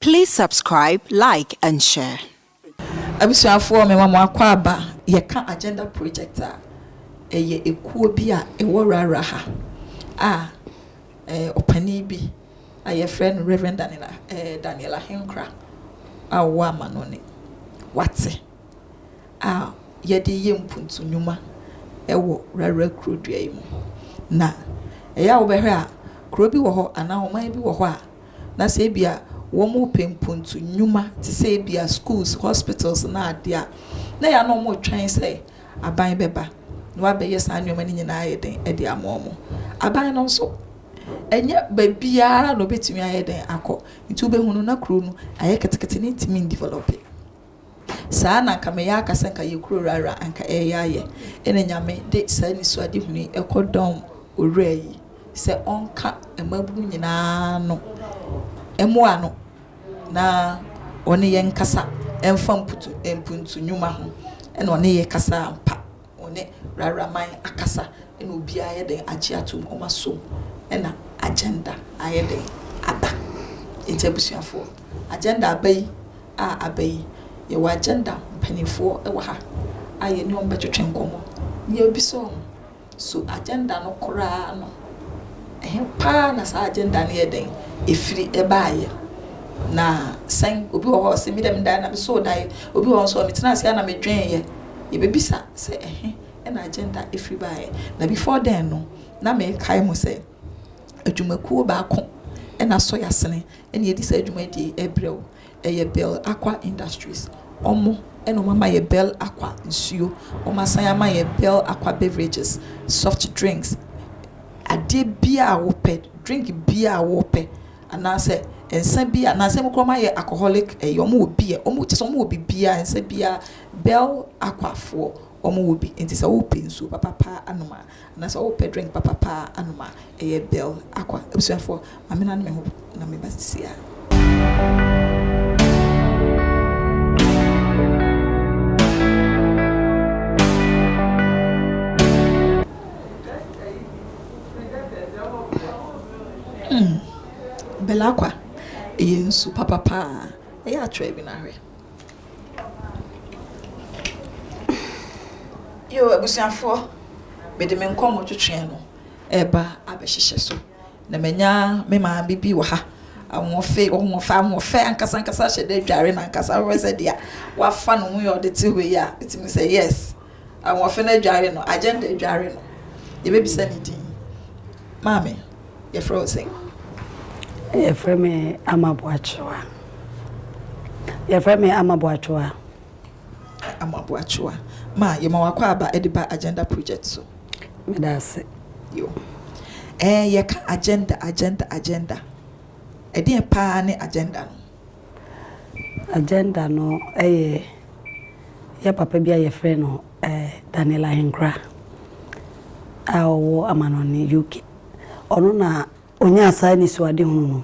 Please subscribe, like and share. Abusuafoɔ me ma mo akɔ aba. Yɛka Agenda Project a, ɛyɛ ekuo bi a ɛwɔ Rara ha a eh, ɔpanin bi a yɛfrɛ no Reverend Daniel, eh, Daniel Ahenkra a ɔwɔ Amanɔne. Wate. a yɛde yɛ mpuntu nnwuma wɔ Rara kurodua yi mu. Na ɛyɛ a wobɛhwɛ a, kuro bi wɔ hɔ anaa ɔman bi wɔ hɔ a, na sɛ ebia wɔrepɛ mpuntu nnwuma te sɛ ebia schools, hospitals ne adeɛ a, na ɛyɛ a na wɔretwɛn sɛ aban bɛba na wabɛyɛ saa nneɛma no nyinaa ayɛ dɛn de ama wɔn. Aban no nso, ɛnyɛ baabiara na ɔbɛtumi ayɛ dɛn akɔ. Nti wobɛhunu na kuro no ayɛ ketekete na ɛntumi ndevelɔpe. Saa na anka meyɛ akasa nka yɛ kuro rara anka ɛreyɛ ayɛ ɛna nyame de saa nisuadehunu yi ɛkɔ dɔm owura yi sɛ ɔnka mmabunu nyinaa no mmoa no na ɔne yɛn kasa ɛmfa mputu mpuntu nwuma ho ɛna ɔne yɛ kasa ampa. Wɔne rara man akasa na obiara ayɛ dɛn agye ato mu, wɔn asom na agenda ayɛ dɛn aba. Nti abusuafoɔ agenda aba yi a aba yi yɛwɔ agenda mpaninfoɔ wɔ ha a yɛne wɔn bɛtwetwe nkɔmmɔ na yɛabisa wɔn so agenda no koraa no ɛhe paa na saa agenda no yɛ dɛn ɛfiri ɛbaayɛ na sɛn obi wɔ hɔ ɔse me dɛ medae na mesoo dae obi wɔ hɔ nso ɔmetena ase a na medwenyɛ Yɛbɛbisa sɛ ɛhe na agenda firi baeɛ. Na before then no, na mekae mo sɛ adwumakuo baako na Soy Asene na ɛdi saa dwumadie yi ɛberɛ o. Ɛyɛ Bell Aqua Industries. Wɔn na wɔn ama yɛ Bell Aqua nsuo. Wɔn asan ama yɛ Bell Aqua beverages, soft drinks, adeɛ biara a wo pɛ, drink biara a wo pɛ, anaa sɛ nsa biara, nansa mu koraa wɔn ayɛ alcoholic ɛyi, wɔn wɔ beer, wɔn kyerɛ sɛ wɔn wɔ biribiara, nsa biara Bell Akwafoɔ wɔn wɔ bi nti sɛ wo pɛ nsuo papapa anom a anaa sɛ wo pɛ drink papapa anom a ɛyɛ Bell Akwa abusuafoɔ ma me na ne me ho na me ba sisi a. Bell Akwa ɛyɛ nsuo papapa a ɛyɛ atrɛ bi na hwɛ. Yoo, abusuafoɔ, mede me nkɔmmɔ twetweɛ no reba abɛhyehyɛ so, na manya me maame bi wɔ ha. Ahoɔfe, ɔhoɔfɛ, ahoɔfɛ ankasa ankasa ahyɛ da adware no ankasa. Wohwɛ sɛdeɛ wafa ne ho yɛ ɔde te hɔ yi a, wotumi sɛ yes. Ahoɔfɛ no adware no, agenda adware no, yɛbɛbisa ne din. Maame, yɛfrɛ wo sɛn? Yɛfrɛ me Ama Boakyewa. Yɛfrɛ me Ama Boakyewa. Ama Boakyewa, ma yɛma wakɔ aba de ba agenda project so. Meda ase. Yo. Ɛɛ, yɛka agenda, agenda, agenda. Ɛdeɛn paa ne agenda no? Agenda no yɛ yɛ papa bi a wɔfrɛ no Daniel Ahenkora a ɔwɔ amanɔne UK. Ɔno na ɔnyaa saa anisoadehunu no,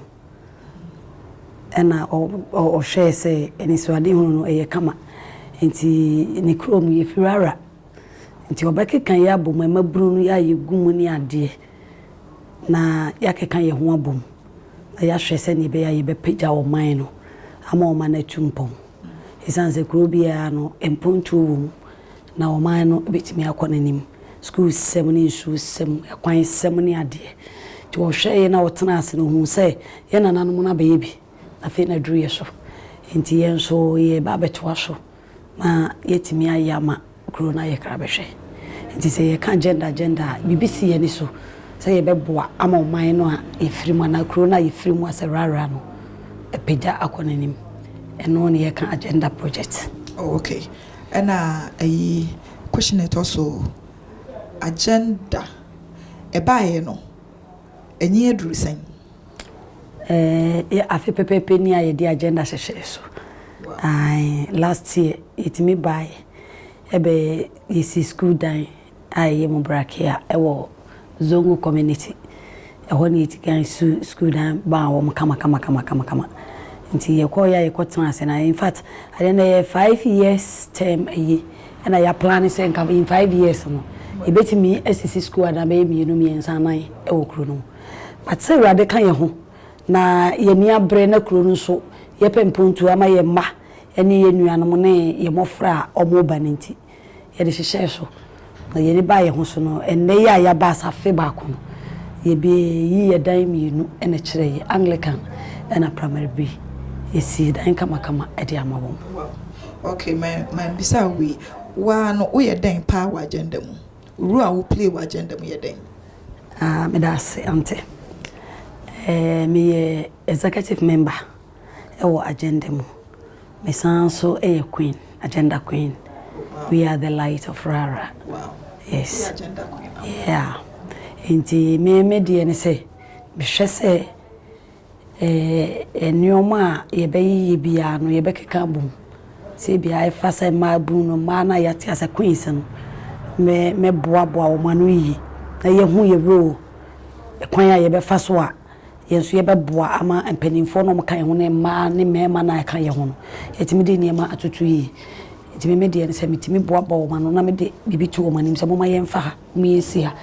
ɛnna ɔhwɛɛ sɛ anisoadehunu no, ɛyɛ kama. Enti ne kurom, yɛfiri Ara. Nti wɔbɛkeka yɛn abom, mmabunu no, yɛ a yɛgu mu ne adeɛ. na yɛakeka yɛn ho abom na yɛahwɛ sɛnea ɛbɛyɛ a yɛbɛpagya ɔman no ama ɔman no atu mpɔn. Esiane sɛ kurow biara no, mpontuo wom, na ɔman no bɛtumi akɔ n'anim, sukuusɛm ne nsuosɛm, akwansɛm ne adeɛ. Nti wɔhwɛeɛ na wɔtenaa ase na wɔhuu sɛ yɛn nananom no abɛyɛ bi, na afei na aduru yɛn so. Enti yɛn nso yɛreba abɛtoa so. ma yɛatumi ayɛ ama kuro no ayɛ krabɛhwɛ. Nti sɛ yɛka gender gender a, biribi si yɛn ani so sɛ yɛbɛboa ama ɔman no a yɛfiri mu anaa kuro no a yɛfiri mu asɛ rara no apagya akɔ n'anim. Ɛno na yɛka agenda project. Oh ok. Ɛna ayi, question a ɛtɔ so agenda ɛbaeɛ no, ani aduru sɛn? Ɛɛ afe pɛpɛɛpɛ ni a yɛde agenda hyehyɛɛ so. Ae, last year yɛtumi baeɛ. Ɛbɛ yɛsii sukuu dan a ɛyɛ mu brakea wɔ Zongo community. Ɛhɔ na yɛdi kan sii sukuu dan maa wɔn kamakamakamakama. Nti yɛkɔeɛ a yɛkɔtenaa ase no a, infact ɛyɛ na ɛyɛ five years term ayi na yɛaplane sɛ nka in five years no yɛbɛtumi asisi sukuu adan bɛyɛ mmienu, mmiɛnsa, nnan wɔ kuro no mu. But sɛ Awurade ka yɛn ho na yɛn ani abere na kuro no nso yɛpɛ mpontuo ama yɛn mma ne yɛn nuanom ne yɛn mmɔfra a wɔreba no nti, yɛde hyehyɛɛ so na yɛn ani baa yɛn ho so no. Ɛnnɛ yi a yɛaba as afe baako no, yɛbɛyi yɛn dan mmienu na ɛkyerɛ yi, Anglican ɛna Primary B. Yɛsii dan kamakama de ama wɔn. Wow, okay, ma ma mbisa wo wei, wo ara no woyɛ dɛn paa wɔ agenda mu? Rule a wo play wɔ agenda mu yɛ dɛn? Aah meda ase Aunty. Eh meyɛ executive member wɔ agenda mu. Mesan nso yɛ Queen, agenda Queen. We are the light of rara. Yes yeah nti me me deɛ ne sɛ mehwɛ sɛ nnoɔma a yɛbɛyeyɛ biara no yɛbɛkeka abɔ mu. Sɛ ebia ɛfa sɛ mmaabunu no, mmaa no a yɛate aseɛ sɛ queens no, mɛboaboa wɔn ano yie na yɛahu yɛn role, kwan a yɛbɛfa so a yɛn nso yɛbɛboa ama mpanimfoɔ no a wɔka yɛn ho ne mmaa ne mmarima no a wɔka yɛn ho no, yɛatumi de nneɛma atoto yie. Nti me deɛ no sɛ metumi boaboa wɔn ano na mede biribi to wɔn anim sɛ momma yɛmfa ha. Wɔasi a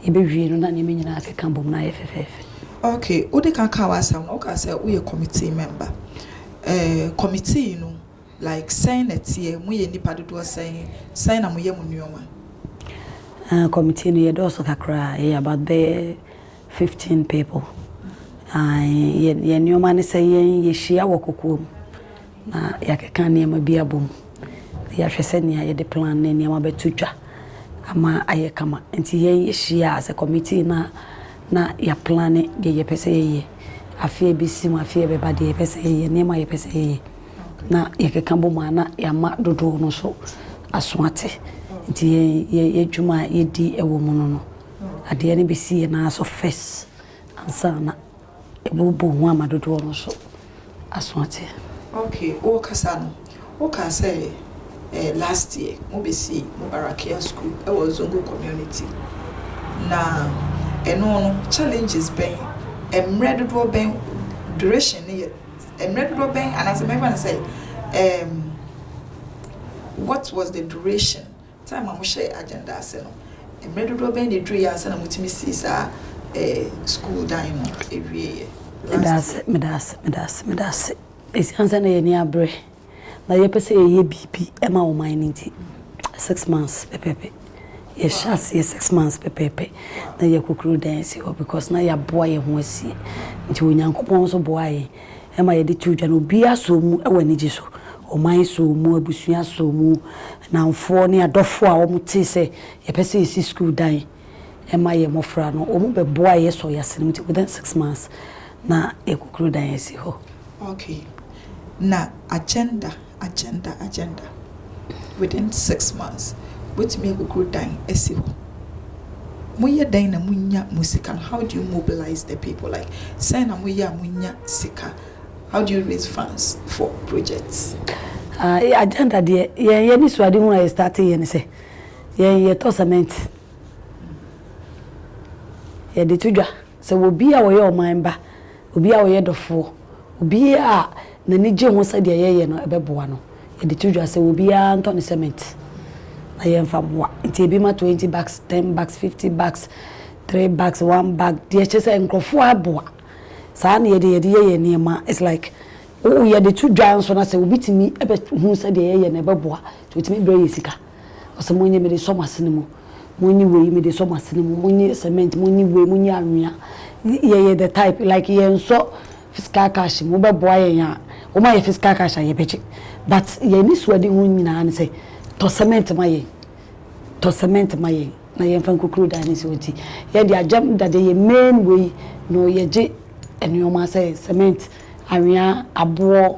yɛbɛwie no na nneɛma nyinaa akeka bom na ayɛ fɛfɛɛfɛ. Ok, wode ka kaa w'asɛm no, wokaa sɛ woyɛ committee member. Eh, committee no, like sɛn na ɛteɛ? Moyɛ nnipa dodoɔ sɛn? Sɛn na moyɛ mo nneɛma? Ah, committee no yɛdɔɔso kakra, yɛyɛ about bɛyɛ fifteen people. Ah, yɛn nneɛma ne sɛ yɛn yɛhyia wɔ kokoam Na yɛakeka nneɛma bi abom, na yɛahwɛ sɛnea yɛde plan ne nneɛma bɛto dwa ama ayɛ kama. Enti yɛn yɛhyia as a committee na na yɛaplane deɛ yɛpɛ sɛ yɛyɛ. Afe a ɛbɛsi mu, afe a ɛbɛba, deɛ yɛpɛ sɛ yɛyɛ, nneɛma a yɛpɛ sɛ yɛyɛ. Na yɛkeka bom a na yɛama dodoɔ no nso aso ate. Nti yɛn yɛn adwuma a yɛdi wɔ mu no no, adeɛ no bɛsi yɛn nan so first ansa na. Ɛbobɔ ho ama dodoɔ no nso aso ate. Ok, wo kasa no, wo kaa sɛ eh, last year mo bɛ si Mubarakia school ɛwɔ Zongo community, na ɛno no challenges bɛn, ɛmmerɛ dodoɔ bɛn, duration no yɛ ɛmmerɛ dodoɔ bɛn, anaasɛ mɛfa no sɛ eh, what was the duration? Time a mohyɛɛ agenda ase no, mmerɛ dodoɔ bɛn na ɛduruiɛ ansa na motumi sii saa sukuu dan no wieeɛ last year? Medase, medase, medase, medase. Ɛsiane sɛ na yɛn ani aberɛ na yɛpɛ sɛ yɛyɛ biribi ma ɔman no nti, six months pɛpɛɛpɛ, yɛhyɛɛ aseɛ six months pɛpɛɛpɛ na yɛakɔkuro dan asi hɔ because na yɛaboa yɛn ho asie nti Onyankopɔn nso boaa yɛn. ɛma yɛde to dwa no, obiara sɔɔ mu wɔ anigye so. Ɔman sɔɔ mu, abusua sɔɔ mu, nnamfoɔ ne adɔfoɔ a wɔtee sɛ yɛpɛ sɛ yɛsi sukuu dan ma yɛn mmɔfra no, wɔbɛboaeɛ, yɛsɔɔ yɛn asene mu nti within six months na yɛakɔkuro dan asi hɔ. Okay, na agenda agenda agenda within six months wobɛtumi akukuru dan asi hɔ moyɛ dɛn na monya mo sika no how do you mobilize the people like sɛn na moyɛ a monya sika how do you raise funds for projects. Ah, eh, agenda deɛ yɛn yɛ ne suade ho a yɛ starte yɛ ne sɛ yɛn yɛtɔ cement yɛde to dwa sɛ wɔ bi a wɔyɛ ɔman ba Obi a ɔyɛ dɔfoɔ. Obiara a n'ani gye ho sɛ deɛ yɛyɛ no ɛbɛboa no, yɛde to dwa sɛ obiara ntɔ ne cement na yɛmfa mmoa. Nti ebi ma twenty bags, ten bags, fifty bags, three bags, one bag, deɛ kyerɛ sɛ nkorɔfoɔ aboa. Saa na yɛde yɛde yɛ yɛn nneɛma. It's like wo yɛde to dwa nso na sɛ obi tumi bɛ hu sɛ deɛ yɛyɛ no ɛbɛboa nti ɔtumi brɛ yɛn sika. Ɔse monye mede sɔ mo asene mu, monye wei mede sɔ mo asene mu, monye cement, monye wei, monye anwea. Yɛyɛ the type, like yɛnsɔ physical cash mu, wobɛboa yɛn a, woma yɛ physical cash a yɛbɛgye. But yɛn anisoadehu nyinaa ne sɛ, tɔ cement ma yɛn, tɔ cement ma yɛn na yɛmfa nkukuru dan no nso nti, yɛn deɛ agyam dadeɛ, yɛn main wei no yɛgye nnoɔma sɛ cement, anwea, aboɔ,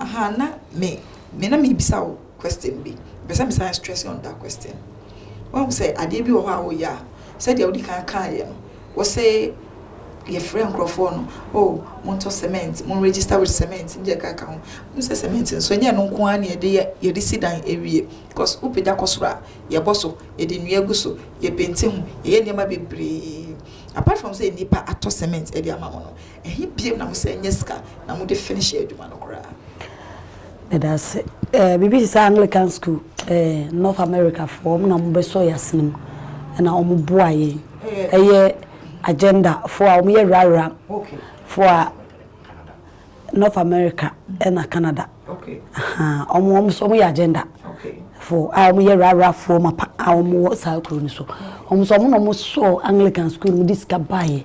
Aha na me me na merebisa wo question bi. Mepɛ sɛ mesan stress on that question. Woahu sɛ adeɛ bi wɔ hɔ a woyɛ a, sɛdeɛ wodi kan kaeɛ no, wose yɛfrɛ nkurɔfoɔ no, oh montɔ cement, mo register with cement ne deɛ ɛkeka ho. Wohu sɛ cement nso ɛnyɛ ɛno nko ara na yɛde yɛ, yɛde si dan awie. Because wopagya kɔ soro a, yɛbɔ so, yɛde nnua gu so, yɛpenti ho, yɛyɛ nneɛma bebree. Apart from sɛ nnipa atɔ cement de ama mo no, Ɛhe biom na mosan nya sika na mode finish adwuma no koraa? Medase. Eh, biribi te sɛ Anglican school, eh, North America foɔ, ɔmo na ɔmo bɛsɔ yɛn asene mu, ɛna ɔmo boa yɛn. Ɛyɛ agenda foɔ a, ɔmo yɛ rara foɔ a, North America ɛna Canada, ahaa, ɔmo, ɔmo nso ɔmo yɛ agenda foɔ a, ɔmo yɛ rara foɔ mapa a ɔmo wɔ saa kuro no so. Ɔmo nso ɔmo na ɔmo sɔɔ Anglican school no, ɔmo de sika baeɛ,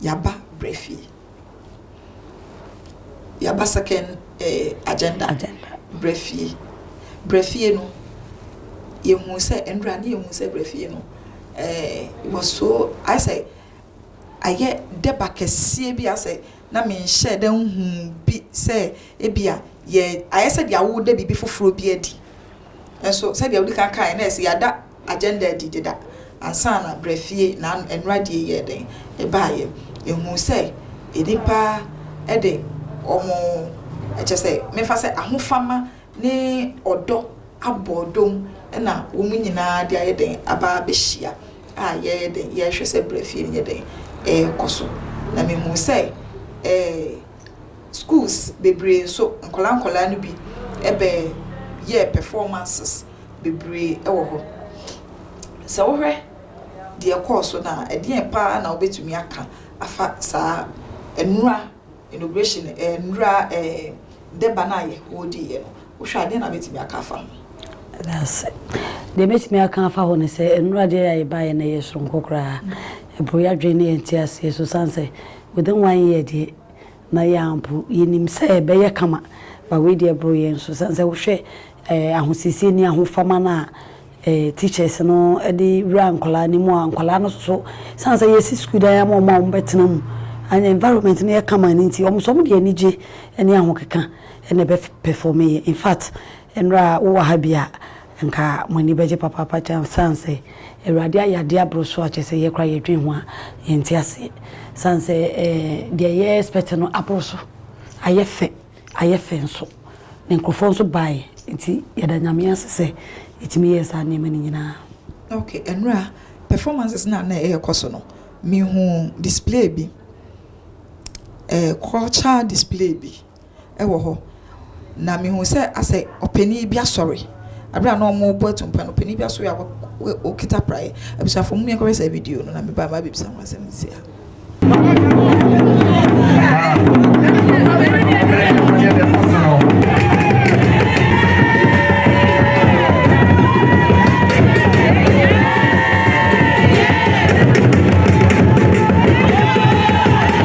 Yaba brɛ fie. Yaba second eh, agenda, agenda. brɛ fie. Brɛ fie no, yɛhuu sɛ, ɛnora ne yɛhuu sɛ brɛ fie no, eh, was so, ayɛ sɛ, ayɛ dɛba kɛseɛ bi asɛ na menhyɛ da nhu bi sɛ ebia yɛ ayɛ sɛ deɛ awoda biribi foforɔ bi adi nso sɛdeɛ wodi kan kaeɛ na ɛsɛ yɛada agenda adi deda ansa na Brɛfie na nnora die yɛɛ dɛn? ɛbaeɛ. Yɛhuu sɛ nnipa de wɔn, kyerɛ sɛ, memfa sɛ ahofama ne ɔdɔ abɔɔ dom na wɔn nyinaa de ayɛ dɛn? aba abɛhyia a yɛyɛ dɛn? yɛrehwɛ sɛ Brɛfie no yɛ dɛn? ɛrekɔ so. Na mehuu sɛ ɛɛ schools bebree nso, nkwadaa nkwadaa no bi bɛ yɛɛ performances bebree wɔ hɔ. Sɛ wohwɛ deɛ ɛkɔɔ so no a, ɛdeɛn pa ara na wobɛtumi aka afa saa nnora inauguration eh, nnora eh, dɛba no a Yehowa diiɛ no? Wohwɛ a, deɛn na wobɛtumi aka afa ho? Ɛda ase. Deɛ mɛtumi aka afa ho ne sɛ, nnora deɛ a ɛbaeɛ no ɛyɛ soronko koraa. Ɛboro yɛn adwene ne yɛn nteaseɛ so, ɛsiane sɛ within one year deɛ, Na yɛn ara mpo, yɛnim sɛ ɛbɛyɛ kama, but wei deɛ ɛboro yɛn so. Sane sɛ wohwɛ ahosiesie ne ahofama no a teachers no de wura nkwadaa no mu a, nkwadaa no soso, sane sɛ yɛasi sukuu dan ama wɔn a wɔbɛtena mu, and environment no yɛ kama no nti, wɔn nso wɔde anigye ne ahokeka na ɛbɛ perform yɛ. Infact, nnora a wowɔ ha bi a, Nka mo ani bɛgye papaapa kyɛn esiane sɛ Awurade ayɛ adeɛ aboro so a kyerɛ sɛ yɛn koraa yɛdwen ho a yɛnte aseɛ. Esiane sɛ deɛ yɛ expect no aboro so, ayɛ fɛ, ayɛ fɛ nso, na nkurɔfoɔ nso baeɛ nti, yɛda Nyame ase sɛ yɛtumi yɛɛ saa nneɛma no nyinaa. Ok, nnora performances no a na ɛrekɔ so no, mehuu display bi, ɛɛ culture display bi. wɔ hɔ, na mehuu sɛ asɛ ɔpanin bi asɔre. Bere a na wɔrebɔ atumpa no, ɔpanin bi asɔre a ɔkita praeɛ. Abusuafoɔ, momma yɛnkɔhwɛ saa video no, na meba maba abɛbisa ho asɛm nsia.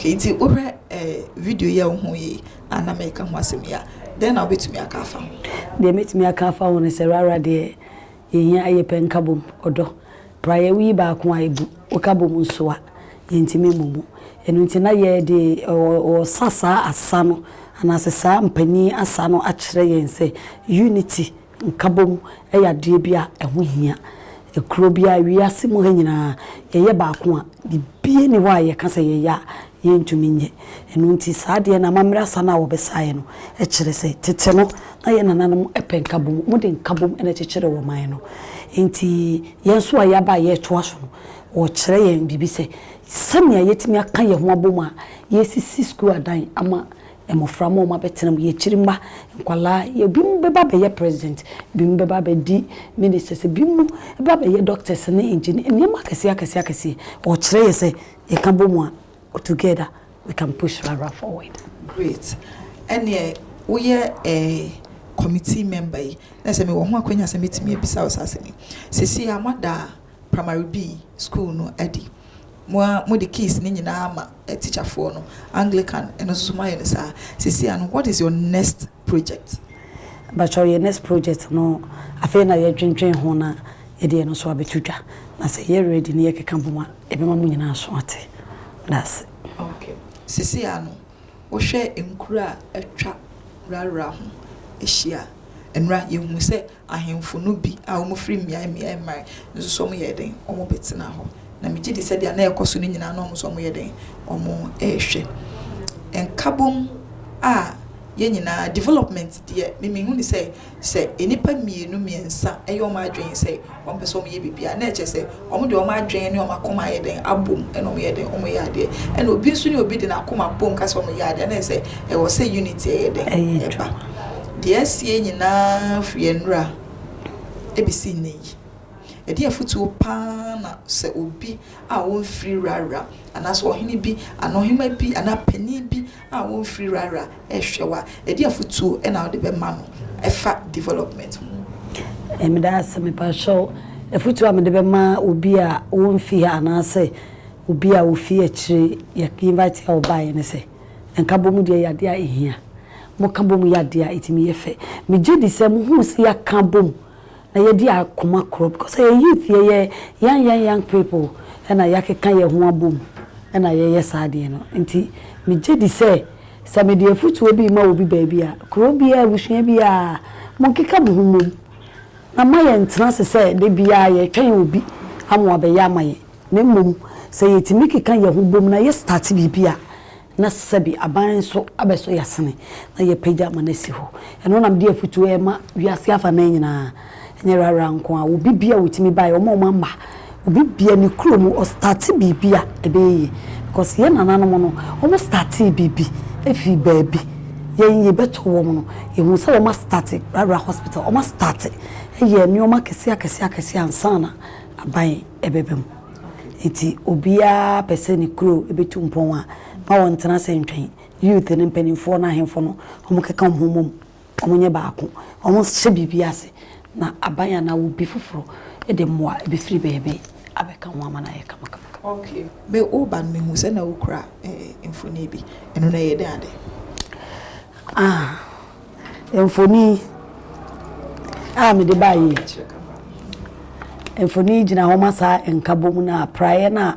okay nti wohwɛ eh, video yɛ wo ho yi ana meka ho asɛm yi a dɛn na wobɛtumi aka afa ho deɛ mɛtumi aka afa ho no sɛ rara deɛ Yɛn yɛn ayɛ pɛ nka bom, ɔdɔ. Praeɛ woyi baako a ɛbu, woka bom nso a, yɛntumi mmɔ mu. Ɛno nti na yɛde ɔsa saa asa no anaasɛ saa mpanin asa no akyerɛ yɛn sɛ unity, nka bom, yɛ adeɛ bi a ɛho hia. Kuro biara, wiase mu ha nyinaa, yɛyɛ baako a, biribiara nni hɔ a yɛka sɛ yɛyɛ a yɛntumi nyɛ. Ɛno nti saa adeɛ no, amammerɛ asa no a wɔbɛsaeɛ no kyerɛ sɛ tete no na yɛn nananom pɛ nkabom, wɔde nkabom na ɛkyekyeree ɔman no. Enti yɛn nso a yɛaba a yɛretoa so no, wɔkyerɛ yɛn biribi sɛ sɛnea yɛatumi aka yɛn ho abom a yɛresisi sukuu adan ama mmofra ma wɔabɛtena mu, yɛn akyiri mma, nkwadaa, ebinom bɛba abɛyɛ president, ebinom bɛba abɛdi ministers, ebinom bɛba abɛyɛ doctors ne engineers, nneɛma akɛseɛ akɛseɛ akɛseɛ. Wɔkyerɛ yɛn sɛ yɛka bom a, Together we can push Rara forward. Great ɛneɛ woyɛ eh committee member yi na sɛ mewɔ ho akwanya sɛ mɛtumi abisa wo saa asɛm yi. Seesei a moada primary B school no adi, mo ara mode keys no nyinaa ama teacher foɔ no, Anglican ɛno nso so moayɛ no saa, seesei a no what is your next. project mpakyɛw yɛ next project no afei na yɛ dwendwen ho na yɛde yɛ no nso abɛto dwa na sɛ yɛ ready no yɛ keka bom a ɛbɛma mo nyinaa aso ate medase. Ok sesei a no wo hwɛ nkuro a atwa rarah ho ahyia a ɛnora yɛ hu sɛ ahemfo no bi a wɔfiri mmeae mmeae mmae nso so wɔyɛɛ dɛn? Wɔbɛtenaa hɔ. Na megye di sɛ deɛ na ɛrekɔ so no nyinaa na wɔn nso wɔyɛ dɛn? Wɔrehwɛ. Nkabom a yɛn nyinaa, development deɛ me mehu no sɛ, sɛ nnipa mmienu mmiɛnsa yɛ wɔn adwene sɛ wɔpɛ sɛ wɔyɛ biribi a, na ɛkyerɛ sɛ Wɔn de wɔn adwene ne wɔn akoma ayɛ dɛn abom na wɔn yɛ dɛn wɔn yɛ adeɛ ɛna obi nso ne obi de n'akoma bom ka sɛ wɔn yɛ adeɛ ɛna sɛ ɛwɔ sɛ unity ɛyɛ dɛn ɛba deɛ asie nyinaa firi ɛnura ɛbɛsi nnɛ yi ɛdeɛn afutuo paa na sɛ obi a ɔnfiri wura wura anaasɛ ɔhene bi anaa ɔhema bi anaa panin bi. a wɔmfiri rara rehwɛ wo a, ɛdeɛn afotuo na wode bɛma no ɛfa development ho? Meda ase. Mepakyɛw, afotuo a mede bɛma obi a ɔmfiri ha anaasɛ obi a ɔfiri akyire, yɛ invite a ɔbaeɛ ne sɛ, nkabom deɛ ɛyɛ adeɛ a ɛhia. Moka bom yɛ adeɛ a ɛtumi yɛ fɛ. Megye di sɛ mohuu sɛ yɛaka abom Na yɛdi akoma korɔ because ɛyɛ youth yɛyɛ young young young people ɛna yɛakeka yɛn ho abom ɛna yɛyɛ saa adeɛ no nti megye di sɛ sɛ mede afutuo bi rema obi baabi a kuro biara abusua biara monkeka mo ho mmom na mma yɛn ntena ase sɛ da biara yɛretwɛn obi ama wabɛyɛ ama yɛn na mmom sɛ yɛtumi keka yɛn ho bom na yɛ start biribi a na sɛbi aban nso abɛsɔ yɛn asene na yɛapagya ama no asi hɔ. Ɛno na mede afotuo rema wiase afanan nyinaa, ɛnyɛ Rara nko ara, obi biara a ɔtumi baeɛ, wɔn a wɔamma, obi biara ne kurom ɔstate biribi a, ɛbɛyɛ yie. Because yɛn nananom no, wɔstate biribi firi baabi, yɛn yɛbɛtɔ wɔn no, yɛhunu sɛ wɔastate Rara Hospital, wɔastate yɛɛ nneɛma akɛseɛ akɛseɛ akɛseɛ ansa na aban ɛbɛba mu. Enti obiara pɛ sɛ ne kuro bɛtu mpɔn a, mma wɔntena ase ntwɛn. Youth no, mpanimfoɔ no, ahemfo no, wɔnkeka wɔn ho mmom, wɔnyɛ baako, wɔnhyɛ biribi ase, na aban anaa obi foforɔ de mmoa bɛfiri baabi abɛka ho ama no ayɛ kamakama. Okay, me woba no mehu sɛ na wokura mfonin bi, ɛno no ɛyɛ dɛn adɛn? Ah, Mfonin a mede baeɛ yi, mfonin yi gyina hɔ ma saa nkabom no a praeɛ no a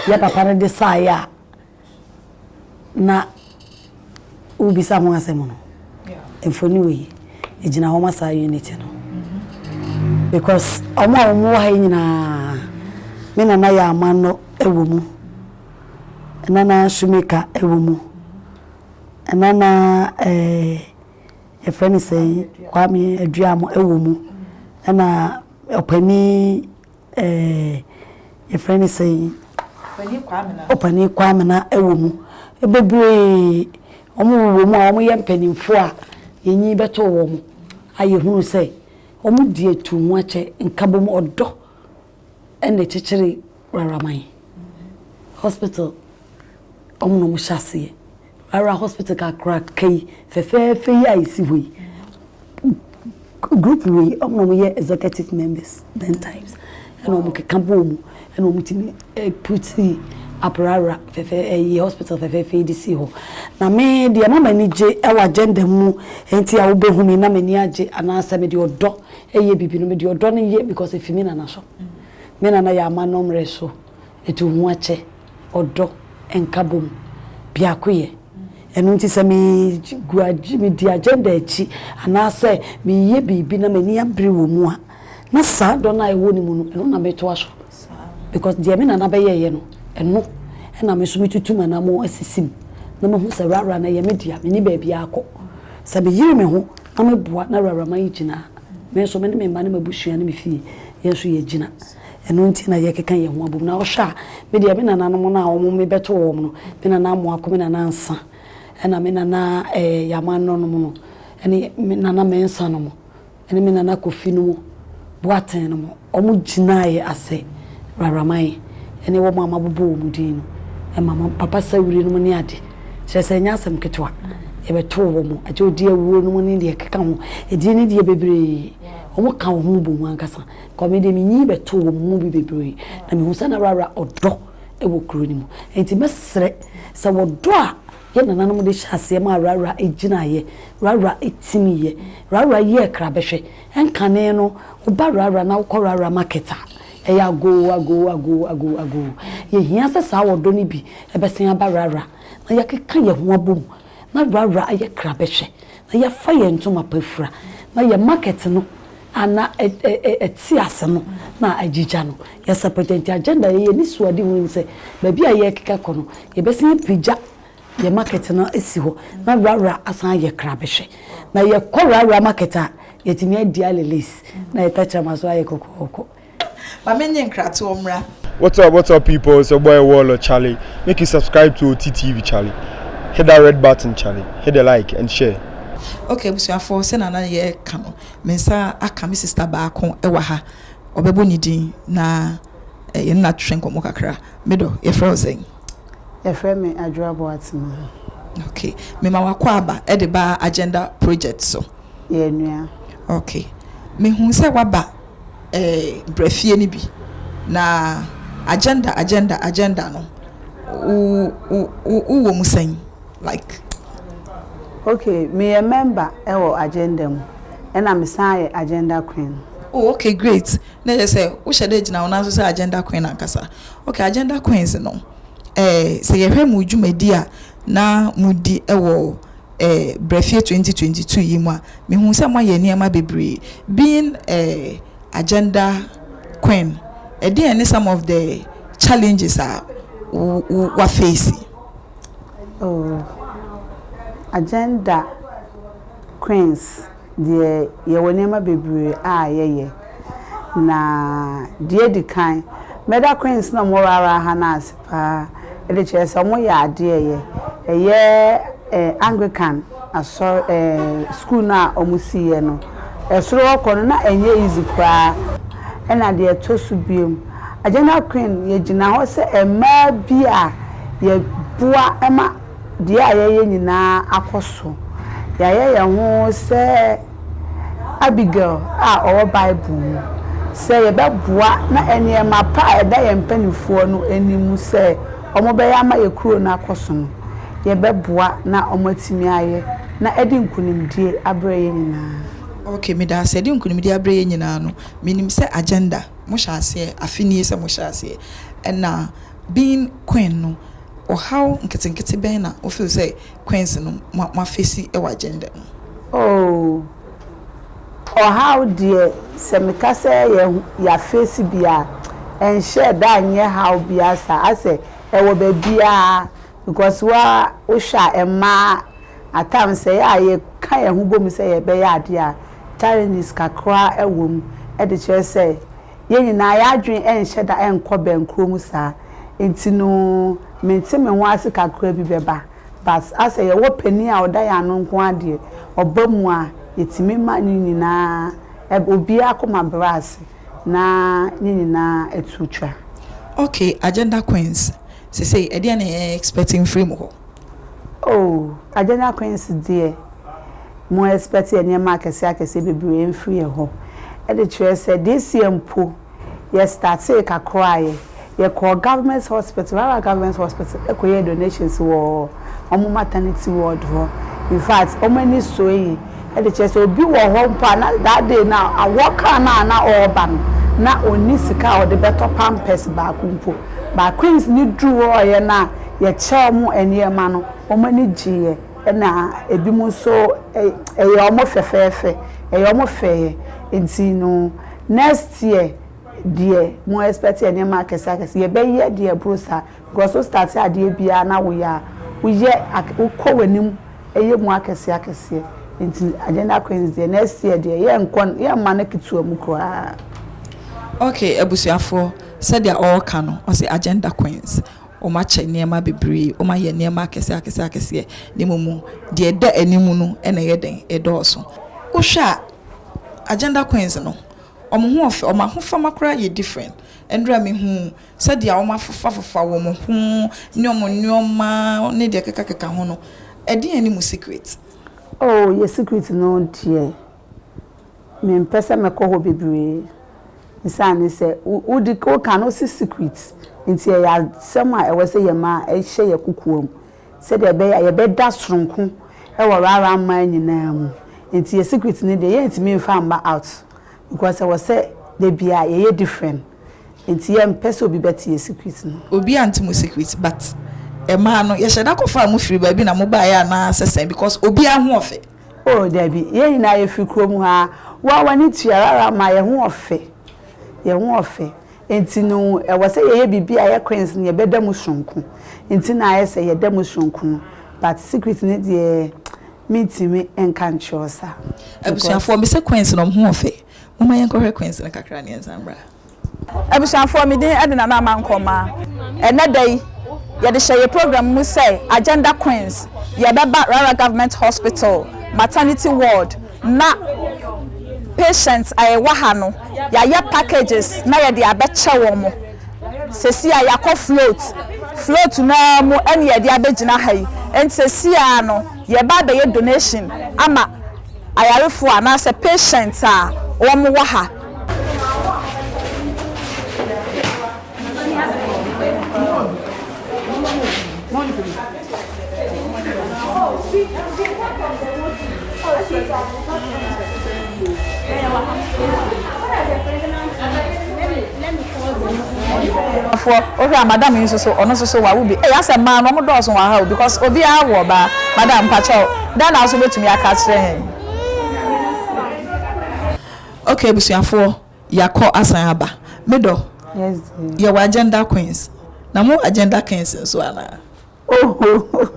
yɛ papa no de saeɛ a na wobisa ho asɛm no. Mfonin wɔ yi, ɛgyina hɔ ma saa unity no. Mm-hmm. Because wɔn a wɔn wɔ ha yi nyinaa, me nana yɛ amanno wɔ mu, nana Sumika wɔ mu. Ɛna na yɛfrɛ no sɛn, Kwame Aduamo wɔ mu. Ɛna ɔpanin yɛfrɛ no sɛn, ɔpanin Kwamena wɔ mu. Bebree, wɔwɔ mu a wɔyɛ mpanimfoɔ a yɛnyi bɛtoo wɔn a yɛhunu sɛ wɔdi atuu ho akyɛ, nkabom, ɔdɔ Ɛnna ɛkyekyere rara ma yɛn. Hospital, wɔn na wɔhyɛ aseɛ. Rara hospital kakraka yi, fɛfɛɛfɛ yi a ɛsi hɔ yi, group wei, wɔn na wɔyɛ executive members ten times. Ɛnna wɔkeka bɔɔ mu, ɛnna wɔtumi puti aprara fɛfɛ ɛyi hospital fɛfɛɛfɛ yi de si hɔ. Na me deɛ ɛma m'ani gye wɔ agenda mu, nti a wobɛhu me na m'ani agye anaasɛ mede ɔdɔ Yɛ biribi no mede ɔdɔ no yɛ because ɛfi me nana so. Me nana yɛ amannɔmmerɛ so ɛtu ho akyɛ, ɔdɔ, nkabom, biakoyɛ. Ɛno nti sɛ me gu agye me di agenda akyi anaasɛ meyɛ biribi na m'ani abere wɔ mu a na saa dɔ no a ɛwɔ ne mu no ɛno na metoa so. Because deɛ me nana bɛyɛeɛ no, ɛno na me nso metutu m'anammɔn asisi mu na mahu sɛ Rara no ɛyɛ me dea, menni baabiara kɔ. Sɛ meyere me ho na meboa na Rara ma yɛgyina a, me nso me ne me mma ne m'abusua ne me fie, yɛn nso yɛgyina. Ɛno nti na yɛkeka yɛn ho abom. Na wohwɛ a, me deɛ me nananom no a wɔn mebɛtoo wɔn no, me nana Amoako, me nana Ansa, ɛna me nana Yamanno nom no, ɛne me nana Mensah nom, ne me nana Kofi nom Boateng nom, wɔn gyinaeɛ asɛ Raraman ne wɔn a mabobɔ wɔn din no ma me papa Sawiri nom ne ade, kyerɛ sɛ ɛnyɛ asɛm ketewa, yɛbɛtoo wɔn, agye Odiawuo nom ne deɛ ɛkeka ho, ɛdin ne deɛ bebree, wɔn ka wɔn ho bom ankasa, because me deɛ me nyin bɛtoo wɔn mu bi bebree, na mehu sɛ na Rara ɔdɔ wɔ kuro no mu, nti mɛsrɛ sɛ wɔdɔ a. Yɛn nananom de hyɛɛ aseɛ maa Rara gyinaeɛ. Rara timiiɛ. Rara yɛɛ krabɛhwɛ. Nkane no, wo ba Rara na wokɔ Rara market a, ɛyɛ agoo, agoo, agoo, agoo, agoo. Yɛhia sɛ saa ɔdɔ no bi bɛsan aba Rara na yɛakeka yɛn ho abom na Rara ayɛ krabɛhwɛ na yɛfa yɛn ntoma pa fura, na yɛn market no a na ɛte ase no na agyigya no, yɛsɛpɛtɛ. Nti agenda a yɛyɛ anisoade ho ne sɛ, baabi a yɛrekeka kɔ no, yɛbɛsan apagya yɛn market no asi hɔ, na Rara asan ayɛ krabɛhwɛ. Na yɛkɔ Rara market a, yɛatumi adi ale lace, na yɛn tɛkyerɛma nso ayɛ kɔkɔɔkɔ. Ma me nye nkratoɔ mmra. What's up what's up people it's your boy Wallo Charlie make you subscribe to Oti TV Charlie hit that red button Charlie hit the like and share. Ok abusuafoɔ sɛnea na yɛ ka no me nsa aka me sister baako ɛwɔ ha ɔbɛbɔ ne din na yɛ ne no atwetwe nkɔmmɔ kakra me dɔ yɛfrɛ wo sɛn? Yɛfrɛ me Adwoa Boatema. Ok me ma wakɔ aba ɛde ba agenda project so. yɛn nua. Ok. Mehuu sɛ woaba eh, bra fie no bi. Na agenda, agenda, agenda no, wo, wo, wo wɔ mu sɛn? Like. Ok, meyɛ member wɔ agenda mu, ɛna mesan yɛ agenda queen. Oh, ok, great. Na ɛyɛ sɛ wohyɛ da gyina wo nan so sɛ agenda queen ankasa. Ok, agenda queens no, eh, sɛ yɛhwɛ mo dwumadi a na modi wɔ. eh, Brɛfie twenty twenty two yi mu a, mehuu sɛ moayɛ nneɛma bebree. Being eh, agenda queen, ɛdeɛn ne some of the challenges a wafeesi? Oh, agenda queens. Deɛ yɛwɔ nneɛma bebree a yɛyɛ na deɛ edi kan mɛda queens na ɔmo rara ha no ase paa ɛde kyerɛ sɛ ɔmo yɛ adeɛ ɛyɛ ɛyɛ anglican asɔre ɛɛ school no a ɔmo si yɛ no ɛsoro hɔ kɔ no na ɛnyɛ easy koraa ɛna deɛ ɛtɔ so biom agenda queen yɛgyina hɔ sɛ ɛmaa bi a yɛboa ɛma deɛ a yɛyɛ nyinaa akɔ so. Yɛayɛ yɛn ho sɛ Abigail a ɔwɔ Bible mu, sɛ yɛbɛboa na nneɛma pa a ɛda yɛn mpanimfoɔ no anim sɛ wɔbɛyɛ ama yɛn kuro no akɔ so no, yɛbɛboa na wɔatumi ayɛ, na adi nkunimdie aberɛ yɛn nyinaa. Ok, meda ase. Adi nkunimdie aberɛ yɛn nyinaa no, menim sɛ agenda, mohyɛ aseɛ afe nie sɛ mohyɛ aseɛ, ɛna being Queen no, ɔhaw nketenkete bɛn na wo feel sɛ Queens no mo a face wɔ agenda mu? Oh, ɔhaw deɛ sɛ me ka sɛ yɛ a face bi a, ɛnhyɛɛ da nyɛ haw biara saa, asɛ ɛwɔ baabiara because wo ara wo hwɛ a mmaa at times sɛ yɛ a yɛ ka yɛn ho bɔ mu sɛ yɛ bɛyɛ adeɛ a challenges kakra wɔ mu de kyerɛ sɛ Yɛn nyinaa, yɛn adwene nhyɛ da nkɔ bɛn kuro mu saa nti no mente me ho ase kakra bi bɛba but asɛ yɛwɔ panin a ɔda yɛn ano nko ara deɛ ɔba mu a yɛtumi ma ne nyinaa ɛb obiara akoma brɛ ase na ne nyinaa atu twa. Okay, Agenda Queens, sesei ɛdeɛn na yɛn expect mfiri mo hɔ? Oh Agyanya Queens deɛ mo expect nneɛma akɛseɛ akɛseɛ bebree mfiri yɛn hɔ ɛde kyerɛ sɛ this year mpo yɛ startee kakra yɛ yɛ kɔɔ government hospital Rara government hospital ɛkɔ yɛɛ donations wɔ wɔn maternity ward hɔ in fact wɔn ani soe yie ɛde kyerɛ sɛ obi wɔ hɔ mpo a na that day no awɔ car no a na ɔreba no na ɔnni sika a ɔde bɛtɔ pampers baako mpo but Queens no duru hɔeɛ no a yɛkyɛ wɔn nneɛma no, wɔn ani gyeeɛ, ɛna ebinom nso ɛyɛɛ wɔn fɛfɛɛfɛ, ɛyɛɛ wɔn fɛeɛ. Nti no, next year deɛ, mo expect nneɛma akɛseɛ akɛseɛ. Yɛbɛyɛ deɛ ɛboro saa because wo start adeɛ biara na woyɛ a, woyɛ ak wokɔ w'anim yɛ mu akɛseɛ akɛseɛ. Nti Agenda Queens deɛ, next year deɛ, yɛnkɔ n yɛmma no ketewa mu koraa. Okay, abusuafoɔ, sɛdeɛ ɔreka no, ɔse Agenda Queens. Wɔakyɛ nneɛma bebree, wɔayɛ nneɛma akɛseɛ akɛseɛ akɛseɛ, na mmom deɛ ɛda anim no na ɛyɛ dɛn? Ɛdɔɔso. Wohwɛ a, Agenda Queens no, wɔn ho yɛ fɛ, wɔn ahofama koraa yɛ different. Ɛnnora a mehuu sɛdeɛ wɔafofafofa wɔn ho ne wɔn nneɛma ne deɛ ɛkekakeka ho no, ɛdeɛn ne mo secret? Oh, yɛn secret no deɛ. Mempɛ sɛ mɛkɔ hɔ bebree esiane sɛ wodi woka no wose secret nti ɛyɛ asɛm a ɛwɔ sɛ yɛma ɛhyɛ yɛn kokoam sɛdeɛ ɛbɛyɛ a yɛbɛda soronko wɔ rara mmaa nyinaa mu nti yɛn secret no deɛ yɛntumi mfa mma out because ɛwɔ sɛ da biara yɛyɛ different nti yɛmpɛ sɛ obi bɛte yɛn secret no. Obiara nte mo secret but mmaa no yɛhyɛ da kɔfaa mo firi baabi na mobaeɛ anaa sɛ sɛn because obiara ho ɔfɛ. Oh dabi, yɛn nyinaa yɛfiri kurom ha ara, wo ara w'ani tua rara ma yɛn ho ɔfɛ, yɛn ho ɔfɛ nti no ɛwɔ sɛ yɛyɛ biribi a ɛyɛ queens no yɛbɛda mu sononko nti na ayɛ sɛ yɛda mu sononko no but secret no deɛ mentumi nka nkyerɛ wo sa because. Abusuafoɔ, mese queens no wɔn ho ɔfɛ, momma yɛnkɔhwɛ queens no kakra na yɛnsan mmra. Abusuafoɔ, me din de Nana Ama Nkrumah. Ɛnnɛ da yi, yɛde hyɛ yɛn program mu sɛ Agenda Queens, yɛbɛba Rara Government Hospital Maternity Ward na patients a ɛwɔ ha no, yɛayɛ packages na yɛde abɛkyɛ wɔn. Seesei ara yɛakɔ float, float no ara mu na yɛde abɛgyina ha yi. Enti seesei ara no, yɛreba abɛyɛ donation ama ayarefoɔ anaasɛ patients a wɔwɔ ha. wohwɛ a madam yi nso so ɔno nso so wawo bi ɛyɛ asɛ mmaa no wɔn dɔɔso wɔ aha o because obiara wɔ ɔbaa madam mpakyɛw dɛn na aso betumi aka akyerɛ yɛn. Ok abusuafoɔ yakɔ asan aba. Me dɔ yɛwɔ agenda queens na mo wɔ agenda kings nso anaa. Ohohoh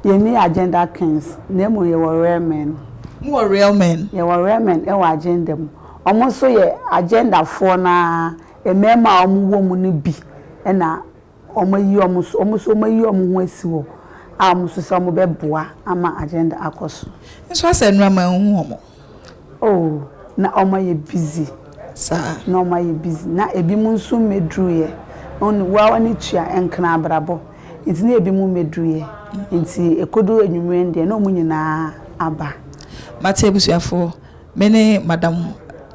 yɛnni agenda kings na mmom yɛwɔ real men. Mo wɔ real men. Yɛwɔ real men wɔ agenda mu. Wɔn nso yɛ agenda foɔ no ara, mmarima a wɔn wɔ mu no bi na. Wɔayi wɔn nso, wɔn nso wɔayi wɔn ho asi hɔ a wɔn nso sɛ wɔbɛboa ama agenda akɔ so. Nso asɛ nnura ma nhu wɔn. Oh, na wɔn ayɛ busy. Saa. Na wɔn ayɛ busy. Na ebinom nso mmɛduruiɛ. Wɔn, wo ara w'ani tua nkran abrabɔ. Nti na ebinom mmɛduruiɛ. Nti ɛkɔduru anwummerɛ no deɛ na wɔn nyinaa aba. Mate abusuafoɔ, me ne Madam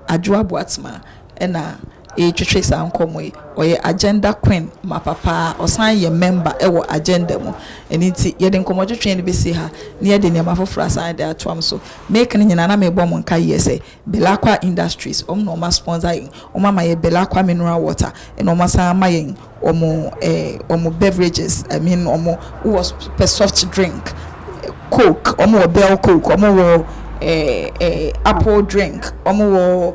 Adwoa Boatema na. retwetwe saa nkɔmmɔ yi. Ɔyɛ agenda queen mapa pa ara. Ɔsan yɛ mɛmba wɔ agenda mu. Ɛno nti, yɛde nkɔmmɔtwetwe no bɛsi ha, na yɛde nneɛma foforɔ asan de atoam. So mereka no nyinaa, na merebɔ mo nkaeɛ sɛ Belacqua Industries, wɔn na wɔasponsor yɛn. Wɔama yɛn Belacqua mineral water, ɛnna wɔasan ama yɛn wɔn eh, wɔn beverages, I mean wɔn, wowɔ pɛ soft drink, Coke, wɔwɔ Bell Coke, wɔwɔ eh, eh, apple drink, wɔwɔ